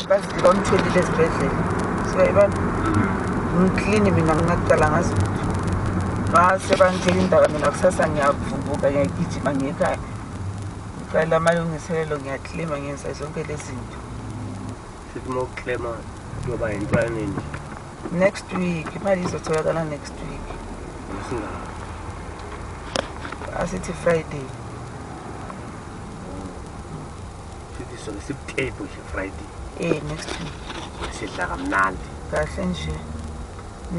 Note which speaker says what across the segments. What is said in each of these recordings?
Speaker 1: bazilomthelile ezibhedlela siyayibona ngiklini mina nginacala ngazi mase bangitshela indaba mina kusasa ngiyavuvuka ngiyagijima ngiyekhaya ngicela amalungiselelo ngiyaklima ngenza zonke lezi zinto futhi
Speaker 2: uma uklema kuyoba yintwane nje next
Speaker 1: week imali izotholakala next week asithi friday
Speaker 2: Sifiswa ngesibutable nje Friday. Eh next time.
Speaker 1: Sidla
Speaker 2: kamnandi. Kahle nje.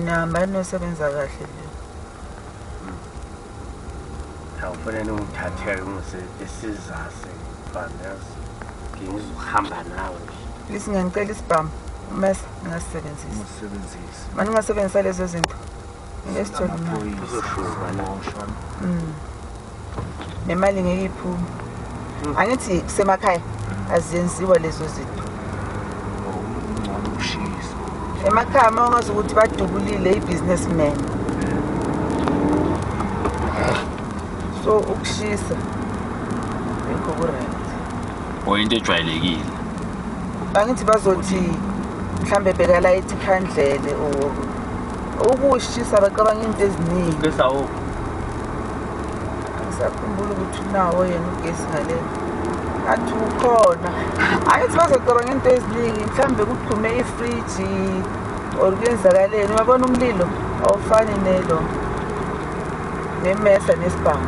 Speaker 1: Namba nosebenza kahle le.
Speaker 2: Awufuna hmm. ningithatheke ngise isizase fanele ngizohamba nawe. Lisi ngicela
Speaker 1: isibhamu. Mas ngasebenzisa. Ngasebenzisa. Manje ngasebenzisa lezo zinto. Mm. nemali ngeke iphume mm. angithi kusemakhaya azenziwa lezo zinto emakhaya uma ungazi ukuthi badubulile i-business man so ukushisa yikho kuright or into
Speaker 3: ejwayelekile
Speaker 1: angithi bazothi mhlawumbe bhekala ithi khandlele or ukushisa bacabanga into eziningi besa wo sakhumbula ukuthi unawo yena ugesi ngale athi ukhona ayithi bazocabanga into eziningi mhlawumbe kudume ifriji or kuyenzakaleni uyabona umlilo awufani nelo nemesa nesibhamu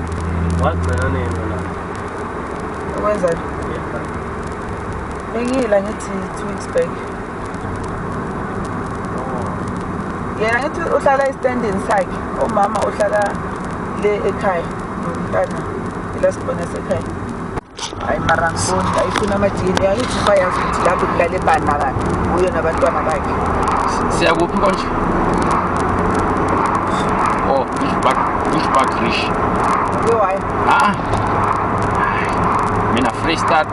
Speaker 1: wagcina
Speaker 2: nini la
Speaker 1: ukwenza bengiyila ngithi two weeks back yena ngithi uhlala estandini sakhe umama uhlala le ekhaya nomntana ila sibona sekhaya hayi mara ngiboni ayifuna amajini angithi bayazi ukuthi lapho kulale bana kanti uyo nabantwana bakhe siyakuphi
Speaker 3: konje o oh, bushback bushback rish uke wayo
Speaker 1: a ah.
Speaker 3: mina freestart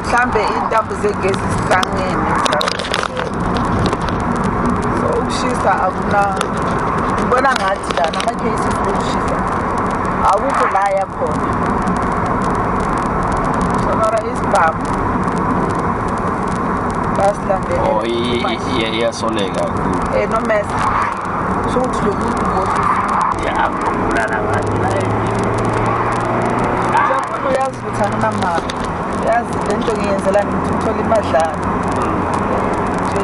Speaker 1: mhlambe intambo zegezi zihlangene so ukushisa akuna ngibona ngathi la nama-cases okushisa akukho la yakhona sonora isibhamu basilandeleiyasoleka oh, um
Speaker 3: eh, nomesa
Speaker 1: sho ukuthi lo muntu ngothi Thana mama yazi lento ngiyenzelani ngithola imadlana